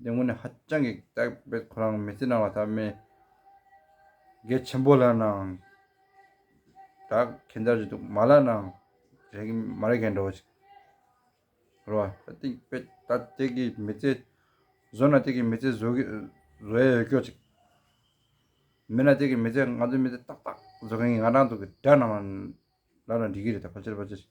འདི་དངོས་ནས་ཧ་ཅང་གི་དག་པའི་ཁོ་རང་མི་ཚེ་ནང་ལ་ཐབས་མེད་འགལ་ཆེན་པོ་ལ་ནང་དག་གན་ད་རེད་འདུག་མ་ལ་ནང་རེད་གི་མ་རེད་གན་འགྲོ་ཅིག་རོ་བ། ད་དེ་པེ་ད་དེ་གི་མི་ཚེ་བཟོ་ན་དེ་གི་མི་ཚེ་བཟོ་གི་བཟོ་ཡ་ཡོད་སྐྱོ་ཅིག་མེད་ན་དེ་གི་མི་ཚེ་ང་ཚོའི་མི་ཚེ་ཏག་ཏག་བཟོ་གན་གི་ང་རང་འདུག་གི་དགྲ་རྣམས་ལ་ལ་འདྲི་གི་རེད་ད་ཕ་ཆེར་ཕ་ཆེར་ཅིག་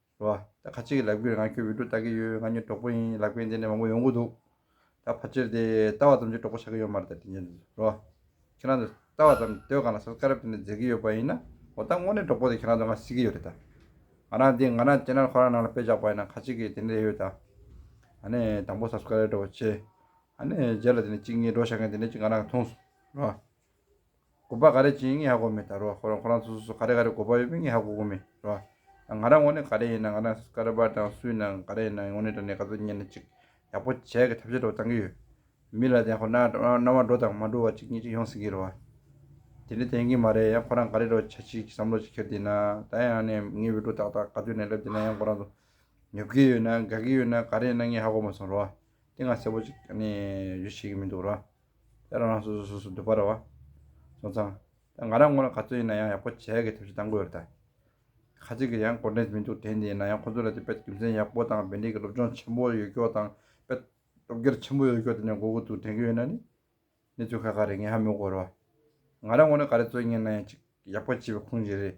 རེད། ད་ཁ་ཅིག་གི་ལབ་ཀྱི་རེད་ང་ཁྱོད་བོད་ཕྲུག་ལྟ་གི་ཡོད་ང་གཉིས་གྲོགས་པོ་ཡིན་ལབ་མཁན་དེ་ནས་མང་པོ་ཡོང་གི་འདུག་ད་ཕར་ཆེར་དེ་ལྟ་བ་ཙམ་གྱིས་གྲོགས་པོ་ཆགས་གི་ཡོད་མ་རེད་ད་དྲིན་ཆེན་རེད། ཁྱེད་རང་ཚོ་ལྟ་བ་ཙམ་ལྟོས་གང་ལ་སོ་སྐ་རབས་དེ་ནས་མཛད་གི་ཡོད་པ་ཡིན་ན་འོ་ད་དངོས་གནས་གྲོགས་པོ་དེ་ཁྱེད་རང་ཚོ་ང་སྲིད་གི་ཡོད་རེད་ད། ང་རང་འདི་ང་རང་ཅེ་ནར་ཁོ་རང་ནང་ལ་སྤེལ་བཞག་པ་ཡིན་ན་ཁ་ཅིག་གི་དེ་ནས་རེད་ཡོད་ད། ནས་དང་པོ་སབ་སྐ་རེད་འགྲོ་བ་ཆེ། ནས་རྗེས་ལ་དེ་ནས་གཅིག་གཉིས་འགྲོ་བཞག་མཁན་དེ་ནས་ཅིག་ང་རང་གི་མཐོང་སོང། དགོས་པ་ག་རེ་བྱེད་ངས་ཧ་གོ་མེད་ད་རོ་ཁོ་རང་ཁོ་རང་ཚོ་སོ་སོ་ག་རེ་ག་རེ་དགོས་པ་ཡོད་པས་ངས་ཧ་གོ་གོ་མེད་རོ། ང་རང་ངོ་ནས་ག་རེ་ཡིན་ན་ང་རང་སྐ་ར་པ་དང་སུའི་ནང་ག་རེ་ཡིན་ན་ངོ་ནས་དྲ་གནས་ག་ཚོད་ཉན་ན་ཅིག་ཡག་པོ་བྱས་གི་ཐབས་ཤེས་སྒྲོག་བཏང་གི་ཡོད། མི་ལ་དེ་ཁོ་ན་རྣ་བ་འགྲོ་དང་མ་འགྲོ་བ་ཅིག་གཉིས་ཅིག་ཡོང་སྲིད་ཀྱི་རོ། དེ་འདྲ་དོན་གྱི་མ་རེད་ཡང་ཁོ་རང་ག་རེ་རོ་བྱ་ཅིག་བསམ་བློ་ཅིག་འཁྱེར་དེ་ན་ད་ཡང་ནས་ངའི་བོད་ཕྲུག་དག་དག་ག་ཚོད་ནས་སླེབས་དེ་ན་ཡང་ཁོ་རང་ཚོ་ཉོབ་ཀྱི་ཡོད་ན་དགའ་གི་ཡོད་ན་ག་རེ་ཡིན་ན་ངས་ཧ་གོ་མ་སོང་རོ། དེ་ང་གསལ་པོ་ཅིག་ག་ནས་བརྗོད་ཤེས་ཀྱི་མི་འདུག་རོ། དེ་རང་རང་སོ་སོའི་སོ་སོ་འདོད་པ་རེ་བ། སོང་ཙང། དེ་ང་རང་ངོ་ལ་ག་ཚོད་ཡིན་ན་ཡང་ཡག་པོ་བྱས་དགོས་ཐབས་ཤིག་གཏང་དགོས་རེད་ད། ཁ་ཅིག་གིས་ཡང་གོ་འབྲེལ་མི་འདུག་དེ་འདི་ཡིན་ན་ཡང་ཁོ་ཚོ་ལ་དེ་དཔེར་རྒྱུ་མཚན་ཡག་པོ་དང་དཔེ་འདྲིས་ཀྱི་སློབ་སྦྱོང་ཆེན་པོ་ཡོད་སྐྱོ་དང་དཔེ་སློབ་གཉེར་ཆེན་པོ་ཡོད་སྐྱོ་དེ་འདྲ་མགོ་གུ་དུག་དྲན་གྱི་ཡོད་ན་ནི། གནས་ཚུལ་ཁ་ཁ་རེད་ངས་ཧ་མི་གོ་རེ་བ། ང་རང་ངོ་ལ་ག་རེ་ཚོད་ཡིན་ན་ཡང་ཅིག་ཡག་པོ་བྱས་པའི་ཁུངས་ཞིག་རེད།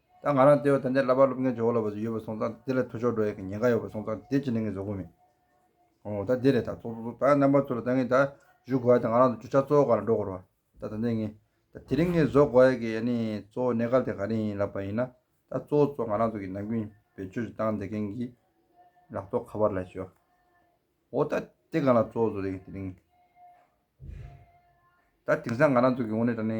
ད་ང་རང་ལྟེ་བའི་ད་ལྟའི་བསླབ་པ་སློབ་མཁན་ཇོ་བོ་ལ་བ་ཚོ་ཡོད་པ་སོང་ཙང་དེ་ལ་ཐུགས་ཕྱོགས་འགྲོ་ཡག་གི་ཉེན་ཁ་ཡོད་པ་སོང་ཙང་དེ་བྱེད་ནི་ངའི་བཟོ་བཀོད་མིན། ཨོ་ད་དེ་རེད་ད་ཚོགས་གཙོ་ཚོ་ད་རྣམ་པ་ཚོ་ལ་ད་ངས་ད་བཞུགས་དགོས་ཡ་ད་ང་རང་ཚོ་བཅུ་ཆ་གཙོ་བོ་ག་ལ་འགྲོ་དགོས་རོ། ད་ད་ནས་ངས་ད་དེ་རིང་ངས་བཟོ་དགོས་ཡ་གི་ཡ་ནི་གཙོ་བོ་གནས་སྐབས་དེ་ག་རེ་ཡིན་ལབ་པ་ཡིན་ན་ད་གཙོ་བོ་ཚོ་ང་རང་ཚོ་གི་ནམ་རྒྱུན་བེད་སྤྱོད་ཅིག་བཏང་བསྡད་མཁན་གི་ལག་ཐོག་ཁ་པར་ལ་ཞུ། ཨོ་ད་དེ་གང་ལ་གཙོ་བོ་ཚོ་རེད་གི་དེ་རིང་ད་དེང་སང་ང་རང་ཚོ་གི་ངོ་ནས་ད་ནི་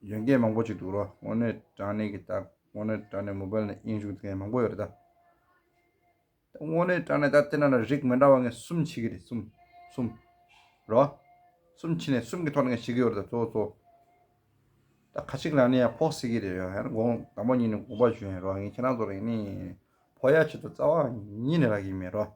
གཞོན་སྐྱེས་མང་པོ་ཞིག་འདུག་རོགས་དངོས་གནས་དྲང་གནས་ཀྱི་ལྟ། དངོས་གནས་དྲང་གནས་མོ་བལ་ནས་དབྱིན་ཞུགས་མཁན་མང་པོ་ཡོད་རེད་ད། དངོས་གནས་དྲང་གནས་ད་བལྟས་ན་ལ་རིགས་མི་འདྲ་བ་ངན་གསུམ་མཆིས་ཀྱི་རེད་གསུམ། གསུམ། རོགས། གསུམ་མཆིས་ནས་གསུམ་གྱི་ཐོག་ནས་ངས་ཞིག་གི་ཡོད་རེད་ད་གཙོ་བོ་གཙོ་བོ། ད་ཁ་ཅིག་ལ་ནི་ཡང་ཕོག་སྲིད་ཀྱི་རེད་ཡོད་ཧེ་དགོངས་དང་པོ་ཉིད་ནས་དགོངས་པ་ཞུ་ཡིན་རོགས་ངས་ཁྱེད་རང་ཚོ་ལ་ཡིན་ནའི་ཡིན་ནའི་ཕོག་ཡ་ཆེད་དུ་རྩ་བ་ཉིད་ནས་རག་གི་མེད་རོགས།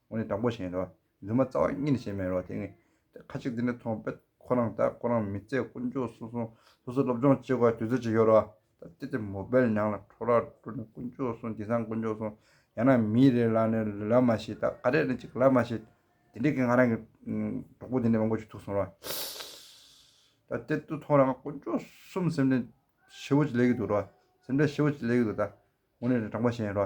ངོ་ནི་དྲང་པོ་བཞིན་རོ། འདུན་མ་རྩ་བ་གཉིས་ནི་བྱེད་མེད་རོ། དེ་ངས་ཁ་ཅིག་འདི་འདྲ་མཐོང་བས་ཁོ་རང་དང་ཁོ་རང་མི་ཚེ་དཀོན་མཆོག་སོ་སོ་སོ་སོ་སློབ་སྦྱོང་བྱེད་དགོས་དུས་ཚོད་ཅིག་ཡོད་རོ། ད་ལྟ་དེ་མོ་བལ་ཉང་ལ་འཕྲོ་རག་འགྲོ་ནས་དཀོན་མཆོག་སོང་དེང་སང་དཀོན་མཆོག་སོང་ཡང་ན་མི་རེ་ལ་ནི་ལབ་མ་ཤེས་ད་ག་རེ་ནི་ཅིག་ལབ་མ་ཤེས། དེ་འདྲས་ཀྱི་ང་རང་གི་གྲོགས་པོ་དེ་འདྲས་མང་པོ་ཞིག་ཐུག་སོང་རོ། ད་ལྟ་དུས་ཐོག་རང་དཀོན་མཆོག་གསུམ་སེམས་ཁྲལ་ཧྲིལ་བོ་ཅིག་ལས་ཀྱི་འདུག་རོ། སེམས་ཁྲལ་ཧྲིལ་བོ་ཅིག་ལས་ཀྱི་འདུག་ད། ངོ་ནི་དྲང་པོ་བཞིན་རོ།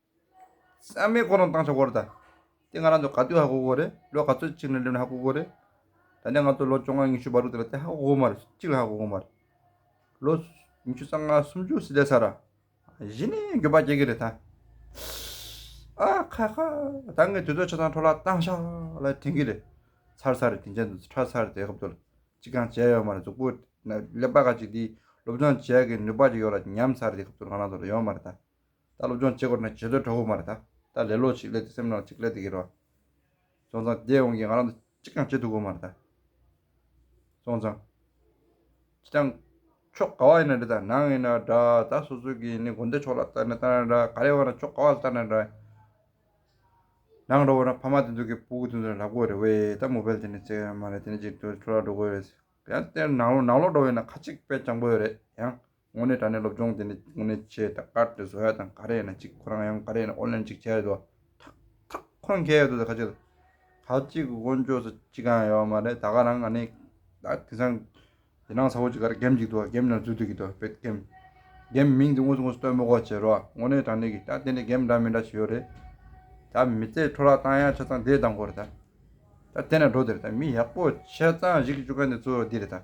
སེམས་མེད་ཁོ་རང་བཏང་ཆ་བོར་ད། དེ་ང་རང་ཚོ་ག་དུས་ཧ་གོ་གོ་རེད་ལོ་ག་ཚོད་ཅིག་ནས་སླེབས་ནས་ཧ་གོ་གོ་རེད། ད་ནས་ང་ཚོ་ལོ་བཅོ་ལྔ་ཉི་ཤུ་བར་དུ་དེ་ལ་དེ་ཧ་གོ་གོ་མ་རེད་ཅིག་ལ་ཧ་གོ་གོ་མ་རེད། ལོ། ཉི་ཤུ་རྩ་ལྔ་སུམ་ཅུ་སི་ལེ་ས་ར། གཞི་ནས་འགྱོད་པ་སྐྱེ་གི་རེད་ད། ཨ། ཁ་ཁ། ད་ངས་དུས་ཚོད་ཆ་ཚང་འཕྲོ་བརླག་བཏང་ཤག་ལ་དྲན་གི་རེད། ཚར་ཚར་རེད་དེ་འཕྱར་དུས་ཚར་ཚར་རེད་དེ་སྐབས་དུ་ལ་ཅི་གང་བྱས་ཡོད་མ་རེད་གཟུགས་པོ། ལེགས་པ་ཁ་ཅིག་འདིས་སློབ་སྦྱོང་བྱས་གི་ནུས་པ་ཅིག་ཡོད་ལ་ཉམས་ཚར་རེད་དེ་སྐབས་དུ་ང་རང་ཚོ་ལ་ཡོད་མ་རེད་ད། ད་སློབ་སྦྱོང་བྱེད་དགོས་ན་བྱེད་སྡོད་གྲོགས་པོ་མ་རེད། ད་ལས་ལོག་ཅིག་ལས་དེ་སེམས་ནང་ཅིག་ལས་དེ་གི་རོ། སོང་ཙང་བསྡད་འོང་གི་ང་རང་དང་གཅིག་ཀྱང་བྱེད་ཐུབ་དགོས་མ་རེད། སོང་ཙང། ཅི་ཀྱང། ཕྱོགས་ག་བ་ཡིན་ན་འདྲ་ད་ནང་ཡིན་ན་འདྲ་ད་སོ་སོ་གི་ནི་དགོན་སྡེ་ཕྱོགས་ལ་ལྟ་ནས་ལྟ་ན་འདྲ་ག་རེ་བ་ན་ཕྱོགས་ག་བ་ལ་ལྟ་ན་འདྲ། ནང་འགྲོ་བ་ན་ཕ་མ་དེ་ཚོ་གི་བུ་གི་དེ་ཚོ་ནི་ལབ་དགོས་རེད་བས་ད་མོ་བལ་དེ་ནི་བཙལ་ཡོད་མ་རེད་དེ་ནི་ཅིག་ཐུ་ལ་འགྲོ་དགོས་རེད། ཡང་དེ་ནང་ལོག་འགྲོ་བས་ན་ཁ་ཅིག་བལ་ལྕང་པོ་ཡོད་རེད་ཡང། དངོས་གནས་དྲ་གནས་སློབ་སྦྱོང་དེ་ནི་དངོས་གནས་ཆེས་དག་པ་རེད་བཟོ་ཡ་དང་ག་རེ་ཡིན་ན་ཅིག་ཁོ་རང་ཡང་ག་རེ་ཡིན་ན་ཨོ་ལན་ཅིག་བྱས་ཡོད་དོ། ཐག་ཐག་ཁོ་རང་མཁས་ཡོད་དོ་ཟེར་ཁ་ཅིག་ལ། ཁ་ཅིག་གི་དབོན་ཆོས་སུ་ཅིག་གང་ཡང་ཡོད་མ་རེད་ད་ག་རང་ག་ནས་ད་དེང་སང་དེ་སྣང་ཚ་བོ་ཅིག་ག་རེ་འགེམས་ཅིག་འདུག་འགེམས་ནང་འཛུལ་འདུག་གི་འདུག་བེད་འགེམས། འགེམས་མིང་དེ་དངོས་སུ་དངོས་སུ་སྟོན་མི་གོ་བྱེད་རོགས་དངོས་གནས་དྲ་གནས་ཀྱི་ད་དེ་ནས་འགེམས་འདྲ་མི་འདྲ་བྱེད་ཡོད་རེད། ད་མི་ཚེ་འཕྲོ་རག་བཏང་ཡག་ཆ་ཚང་དེ་དང་གོ་རེད་ད། ད་དེ་ནས་འགྲོ་དེ་རེད་ད་མི་ཡག་པོ་ཆ་ཚང་གཞིག་གི་བཅུག་ག་འདི་ཚོ་འདི་རེད་ད།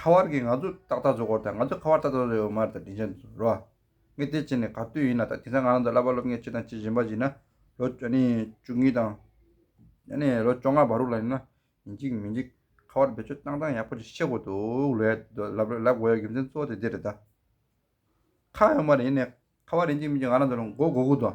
ཁ་བར་གྱི་ང་ཚོ་ཏག་ཏག་བཟོ་གོ་རྟ་ང་ཚོ་ཁ་བར་ཏག་ཏག་བཟོ་ཡོད་མ་རེད་ད་དྲིན་ཆེན་རོ། ངས་དེ་བྱས་ནས་ག་དུས་ཡིན་ན་ད་དེང་སང་ང་རང་ཚོ་བསླབ་པ་སློབ་མཁན་ཁྱེད་དང་ཁྱེད་གཞན་པ་ཞིག་ཡིན་ན་ལོ་བཅུ་གཉིས་དང། ལོ་བཅོ་ལྔ་བར་རུ་ལ་ཡིན་ན་ཡིན་གཅིག་མིན་གཅིག་ཁ་བར་བེད་སྤྱོད་སྟངས་སྟངས་ཡག་པོ་ཞིག་ཤེས་གོ་འདུག་ལོས་ལབ་དགོས་ཡ་རྒྱུ་མཚན་གཙོ་བོ་དེ་དེ་རེད་ད། ཁ་ཡོད་མ་རེད་ཡིན་ནས་ཁ་བར་ཡིན་གཅིག་མིན་གཅིག་ང་རང་ཚོ་ལ་མགོ་སྒུར་གོ་འདུག་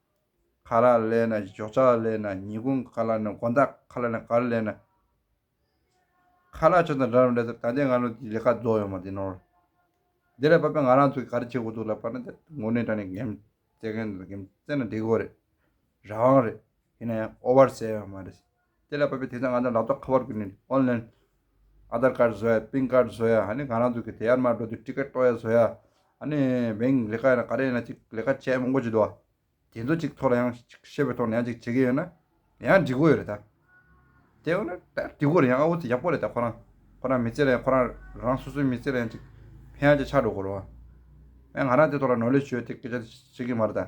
ཁ་ལ་ལས་ན་ཞོགས་ཆགས་ལས་ན་ཉིས་ཁུང་ཁ་ལ་ན་དགོ་མདའ་ཁ་ལ་ན་གར་ལས་ན། ཁ་ལག་ཆོས་དང་འདྲ་རམ་འདྲ་ཟེར་ད་ལྟའི་ང་ལོ་འདིའི་ལས་ཀ་རྫོགས་ཡོང་བ་འདི་ནོར། འདི་ལས་བབ་པའི་ང་རང་ཚོ་གི་ག་རེ་བྱེད་དགོས་འདུག་ལབ་པ་ན་དེ་ངོ་གནས་དྲ་ནས་འགེམ་བཙལ་མཁན་དེ་ལ་འགེམ་བཙལ་ན་འགྲིག་གོ་རེད། རང་དབང་རེད། ཡིན་ན་ཡང་ཨོ་བར་སེ་ཡང་མ་རེད། དེ་ལས་བབས་པའི་དེ་ཚོ་ང་ཚོ་ལག་ཐོགས་ཁ་བར་བསྐུར་ནས Online། Aadhar Card བཟོ་ཡ Pin Card བཟོ་ཡ་ནི་གང་རང་ཚུགས་ཀྱི་དེ་ཡར་མར་འགྲོ་དུས Ticket གཏོགས་ཡ་བཟོ་ཡ་ནི Bank ལས་ཀ་ཡིན་ན་ག་རེ་ཡིན་ན་ཅིག་ལས་ཀ་བྱས་མང་པོ་བྱེད་འདུག་དེ་ཚོ་ཅིག་ཐོག་ལ་ཡང་ཅིག་ཤེས་པའི་ཐོག་ནས་ཡང་ཅིག་བྱེད་ཀྱི་ཡོད་ན་ཡང་འགྲིག་གོ་ཡོད་རེད་ད། དེ་ཡང་ན་ད་འགྲིག་གོ་རེད་ཡང་ཨ་བོ་དེ་ཡག་པོ་རེད་ད་ཁོ་རང་ཁོ་རང་མི་ཚེ་ལ་ཡང་ཁོ་རང་རང་སོ་སོའི་མི་ཚེ་ལ་ཡང་ཅིག་ཕན་ཡང་ཅིག་ཆགས་འགྲོ་གོ་རོགས། ཡང་ང་རང་དེ་ཐོག་ལ་ནོར་ལེ་ཞུ་ཡ་དེ་སྐད་ཆ་དེ་བྱེད་ཀྱི་མ་རེད་ད།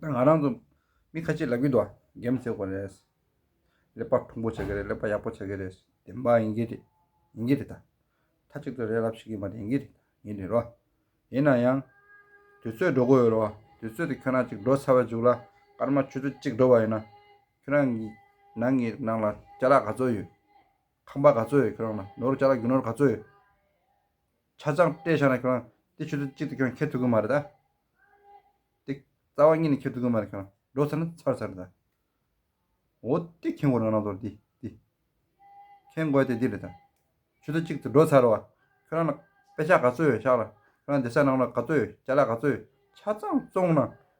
ང་རང་ཚོ་མི་ཁ་ཆེ་ལབ་གི་འདུག་ཨ་འགན་མི་འཁྱེར་གོ་རེད། ལེགས་པར་ཐུགས་འཁུར་བྱེད་ཀྱི་རེད་ལེགས་པར་ཡག་པོ་བྱེད་ཀྱི་རེད། བདེན་པ་ཡིན་གྱི་རེད་ཡིན་གྱི་རེད་ད། མཐའ་གཅིག་ཏུ་རེད་ལབ་བྱེད་ཀྱི་མ་རེད་ཡིན་གྱི་རེད་ཡིན་རེད་རོ། ཡིན་ན་ཡང། དུས་ཚོད་འགྲོ་གི་ཡོད་རོ། དུས་ཚོད་དེ་ཁྱོད་རང་གཅིག་འགྲོ་ཚར་བའི་མཇུག་ལ་སྐར་མ་ཆུ་ཚོད་གཅིག་འགྲོ་བ་ཡིན་ན། ཁྱོད་རང་གི་ནང་གི་ནང་ལ་ལྕགས་ལ་ག་ཚོད་ཡོད། ཁང་པ་ག་ཚོད་ཡོད་ཁྱོད་རང་ལ་ནོར་ལྕགས་ལ་རྒྱུ་ནོར་ག་ཚོད་ཡོད། ཆ་ཚང་སྤྲད་བཞག་ན་ཁྱོང་དེ་ཆུ་ཚོད་གཅིག་ཏུ་ཁྱོང་ཁྱེར་ཐུབ་གི་མ་རེད་ད། དེ་རྩ་བ་གཉིས་ནས་ཁྱེར་ཐུབ་གི་མ་རེད་ཁྱོང་འགྲོ་ཚར་ན་ཚར་ཚར་རེད་ད། འོ་དེ་ཁྱེར་འགོ་ནང་ན་འདོར་དེ་དེ། ཁྱེར་འགོ་དེ་འདི་རེད་ད། ཆུ་ཚོད་གཅིག་ཏུ་འགྲོ་ཚར་བ་ཁྱོད་རང་ལ་དཔེ་ཆ་ག་ཚོད་ཡོད་ཤག་ལ་ཁྱོད་རང་དེ་སར་ནང་ལོགས་ག་ཚོད་ཡོད་ལྕགས་ལ་ག་ཚོད་ཡོད་ཆ་ཚང་བཙོང་ན་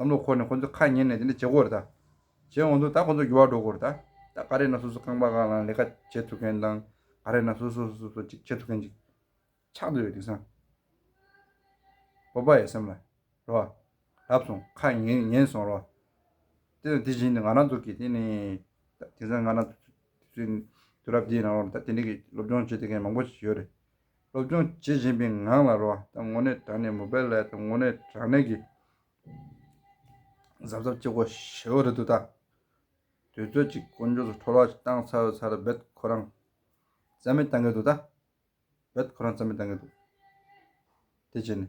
བསམ་བློ་འཁོར་ནས་ཁོ་ཚོའི་ཁ་ཉན་ནས་དེ་འདྲ་བྱེད་འོར་ད། བྱེད་འོང་དུ་ད་ཁོ་ཚོ་འགྱུར་བ་འགྲོ་འོར་ད། ད་ག་རེ་ན་སོ་སོ་རྐང་པ་གང་བླངས་ལས་ཀ་བྱེད་ཐུབ་མཁན་དང། ག་རེ་ན་སོ་སོ་སོ་སོ་ཅིག་བྱེད་ཐུབ་མཁན་ཅིག། ཆགས་འདོད་ཡོད་དེང་སང། བོད་པ་ཡ་སེམས་ལ། རེ་བ། ལབ་སོང་ཁ་ཉན་ཉན་སོང་རེ་བ། དེ་དང་དེ་བཞིན་དུ་ང་རང་ཚོ་གིས་དེ་ནི། ད་དེང་སང་ང་རང། དུས་རབས་འདིའི་ནང་ལོར་ད་དེ་འདྲ་གི་སློབ་སྦྱོང་བྱེད་ཐུབ་མཁན་མང་པོ་ཞིག་ཡོད་རེད། སློབ་སྦྱོང་བྱེད་བཞིན་པའི་ངང་ལ་རོ་དང་ངོ་ནད་དྲག་ནས་མུ་པའི་ལས་དང་ངོ་ནད་དྲག་ནད་ཀྱི་གཟབ་གཟབ་ཀྱི་སྒོ་ཞེའུ་རེ་དུ་དང། དུས་ཚོད་ཀྱི་དཀོན་མཆོག་སུ་འཕྲོ་བརླག་ཅིག་བཏང་ཚར་ཚར་རྦད་ཁོ་རང་རྩ་མེད་བཏང་གི་འདུག་ད་རྦད་ཁོ་རང་རྩ་མེད་བཏང་གི་འདུག་དེ་བྱས་ནས།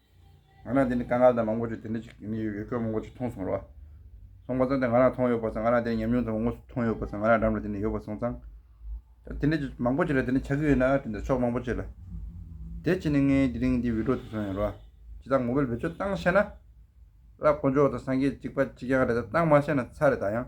ང་རང་དེ་ནས་དཀའ་ངལ་དང་མང་པོ་ཞིག་དེ་འདྲ་ཞིག་ཡོད་ཡོད་སྐད་མང་པོ་ཞིག་མཐོང་སོང་རོགས། སོང་པ་ཙང་དེ་ང་རང་མཐོང་ཡོད་པ་ཙང་ང་རང་དེ་ནས་ཉམས་མྱོང་ཙམ་མང་པོ་ཞིག་མཐོང་ཡོད་པ་ཙང་ང་རང་འགྲམ་ལ་དེ་ནས་ཡོད་པ་སོང་ཙང། དེ་འདྲ་ཞིག་མང་པོ་ཞིག་ལ་དེ་འདྲ་ཆགས་ཀྱི་ཡོད་ན་དེ་འདྲ་ཕྱོགས་མང་པོ་ཞིག་ལ། དེ་ཕྱིན་ནས་ངའི་དེ་རིང་འདི་འུད་སྒྲོག་དེ་སོང་ཡོད་རོགས། ཇི་ལྟར་ངོ་འཕེལ་བེད་སྤྱོད་བཏང་ཤེས་ན། ལ་དཀོན་མཆོག་དང་སངས་རྒྱས་གཅིག་པ་གཅིག་རྐྱང་རེད་ད་བཏང་མ་ཤེས་ན་ཚ་རེད་ད་ཡང།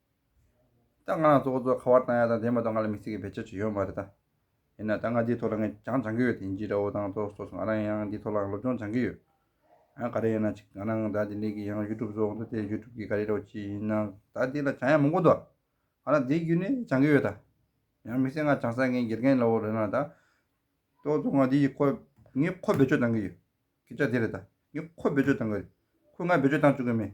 ད་ང་ལ་ཚོགས་གཙོ་ཁ་བ་བཏང་ཡག་དང་དེ་མ་གཏོགས་ང་ལ་མི་ཚེ་གི་བེད་སྤྱོད་ཅིག་ཡོད་མ་རེད་ད། ཡིན་ན་ད་ང་འདིའི་ཐོག་ལ་ངས་ཀྱང་སྦྱང་གི་ཡོད་དེ་འཇི་འདྲ་བོ་དང་ཚོགས་གཙོ་སོགས་ང་རང་ཡང་འདིའི་ཐོག་ལ་སློབ་སྦྱོང་སྦྱང་གི་ཡོད། ཡང་ག་རེ་ཡིན་ན་ཅིག་ང་རང་ད་དེ་འདྲའི་གི་ཡང YouTube སོགས་འདུག་དེ YouTube གི་ག་རེ་རོགས་ཅིག་ཡིན་ན་ད་འདི་ལ་བྱང་ཡག་མང་པོ་འདུག་ང་རང་འདིའི་བརྒྱུད་ནས་སྦྱང་གི་ཡོད་ད། ཡང་མི་ཚེ་ང་བྱང་ས་མཁན་དགེ་རྒན་ལོ་རེད་ན་ད། ཚོགས་གཙོ་ང་འདི་ཡི་ཁོ། ངས་ཁོ་བེད་སྤྱོད་བཏང་གི་ཡོད། སྐད་ཆ་དེ་རེད་ད། ངས་ཁོ་བེད་སྤྱོད་བཏང་གི་རེད། ཁོས་ང་བེད་སྤྱོད་བཏང་བཅུག་གི་མེད།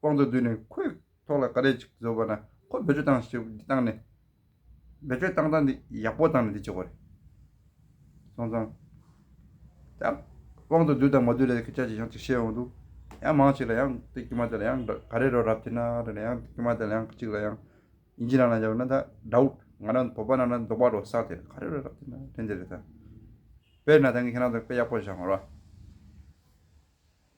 ཀོང་ཙོ་བསྡུས་ནས་ཁོའི་ཐོག་ལ་ཀ་རས་ཅིག་བཟོས་པ་ན་ཁོས་བེད་སྤྱོད་བཏང་ཞེས་འདི་བཏང་ནས། བེད་སྤྱོད་བཏང་བཏང་འདི་ཡག་པོ་བཏང་ནས་འདི་བྱས་པ་རེད། སོང་ཙང། ད། ཀོང་ཙོ་བསྡུས་དང་མ་བསྡུས་ལས་ཁྱེད་ཅག་གིས་ཡང་ཅིག་བཤད་འོང་དུས། ཡང་མང་ཞིག་ལ་ཡང་དེ་དཀྱུས་མ་དེ་ལ་ཡང་ཀ་རས་རོགས་རབ་ཐེ་ན་རེ་ན་ཡང་དེ་དཀྱུས་མ་དེ་ལ་ཡང་ཅིག་ལ་ཡང་ཨིན་ཇི་ནང་ལ་འཇབ་ན་ད་དགྲ་བོ་ང་རང་བོད་པ་ནང་ན་འདུག་པ་རོ་སག་དེ་ཀ་རས་རོགས་རབ་ཐེ་ན་རེ་འདི་རེད་ད། དཔེར་ན་ད་ངས་ཁྱེད་རང་ཚོ་དཔེ་ཡག་པོ་བཞག་ངོ་ར།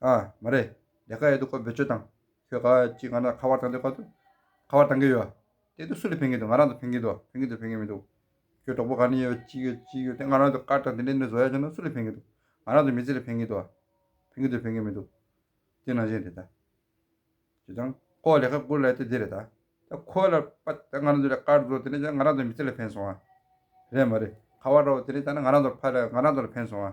ཨ། མ་རེད། ལས་ཀ་ཡོད་འདུག་ཁོ་འབོད་ཆོད་དང། ཁྱོད་ག་ཅིག་ང་རང་ཁ་བར་བཏང་འདུག་ཁ་ཐུག། ཁ་བར་བཏང་གི་ཡོད། དེ་དུས་སུ་ལ་ཕན་གི་འདུག་ང་རང་དུ་ཕན་གི་འདུག་ཕན་གི་འདུག་ཕན་གི་མི་འདུག། ཁྱོད་གྲོགས་པོ་ག་ནས་ཡོད་ཅི་ཡོད་ཅི་ཡོད་དེ་ང་རང་དུ་བཀར་དང་དེ་འདྲའི་འདྲའི་བཟོ་ཡ་བྱུང་ན་སུ་ལ་ཕན་གི་འདུག་ང་རང་དུ་མི་ཚེ་ལ་ཕན་གི་འདུག་ཕན་གི་འདུག་ཕན་གི་མི་འདུག། དེ་ནང་བཞིན་རེད་ད། ཅེས་དང། ཁོ་ལས་ཀ་དགུ་ལས་ཏེ་འདི་རེད་ད། ད་ཁོ་ལ་པ་དེ་ང་རང་དུ་ལས་བཀར་བཟོ་དེ་འདྲ་བྱུང་ན་ང་རང་དུ་མི་ཚེ་ལ་ཕན་སོང་ཨ། རེད་མ་རེད། ཁ་བར་རོགས་དེ་འདྲ་བྱ་ན་ང་རང་དུ་ཕ་ལ་ང་རང་དུ་ལ་ཕན་སོང་ཨ།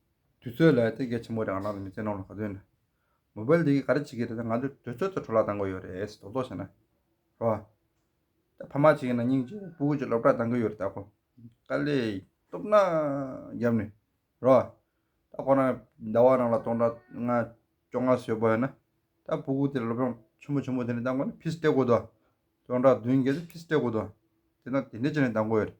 དུས་ཚོད་ལ་ཐེ་གེ་ཆེན་པོ་རང་རང་གི་མི་ཚེའི་ནང་ལ་ག་ཚོད་ཡིན། མོ་པལ་དེ་གིས་ག་རེ་བྱེད་ཀྱི་རེད་ད་ང་ཚོས་དུས་ཚོད་ཐོ་འཕྲོ་བརླག་བཏང་གི་ཡོད་རེད་ཟེར་དོག་དོག་བྱས་ན། རེད་བ། ད་ཕ་མ་བྱས་ཀྱི་ན་སྙིང་རྗེ་བོ་ཀུན་གྱིས་སློབ་གྲྭ་བཏང་གི་ཡོད་རེད་ད་ཁོ། དཀའ་ལས། སྟོབས་ན། རྒྱབ་ནས། རེད་བ། ད་ཁོ་རང་གི་ཟླ་བ་རང་ལ་སྟོང་ཕྲག་ལྔ། བཅོ་ལྔ་ཟོས་པ་ཡོད་ན། ད་བུ་གུ་དེ་ལ་སློབ་སྦྱོང་ཆུན་པོ་ཆུན་པོ་དེ་ནས་བཏང་དགོས་ན་ཕིས་སྤྲད་དགོས་དོ། སྟོང་ཕྲག་བདུན་བརྒལ་ཏེ་ཕིས་སྤྲད་དགོས་དོ། དེ་ན་དེ་འདྲས་བྱས་ནས་བཏང་གི་ཡོད་རེད།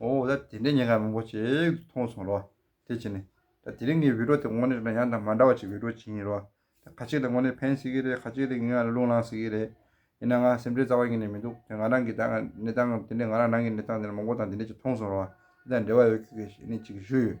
འོ་ད་དེ་འདྲའི་ཉེ་འགའ་མང་པོ་ཞིག་མཐོང་སོང་རོགས། དེ་བྱས་ནས། ད་དེ་རིང་གི་འོད་སྒྲོག་དེ་དངོས་གནས་ཡང་དང་མ་འདྲ་བ་ཞིག་འོད་སྒྲོག་བྱེད་ཡིན་རོགས། ད་ཁ་ཅིག་ལ་དངོས་གནས་ཕན་སྲིད་ཀྱི་རེད་ཁ་ཅིག་ལ་ངའི་ངག་ལ་རླུང་ལངས་སྲིད་ཀྱི་རེད། ཡིན་ན་ང་སེམས་ཁྲལ་རྩ་བ་ཉིད་ནས་མི་འདུག་དེ་ང་རང་གི་གནས་སྟངས་དེ་འདྲའི་ང་རང་རང་གི་གནས་སྟངས་དེ་འདྲ་མང་པོ་དང་དེ་འདྲ་ཅིག་མཐོང་སོང་རོགས། དེ་དང་འབྲེལ་བ་ཡོད་ཁྱོད་ཀྱིས་ཞེ་ནས་ཅིག་ཞུས་ཡོད།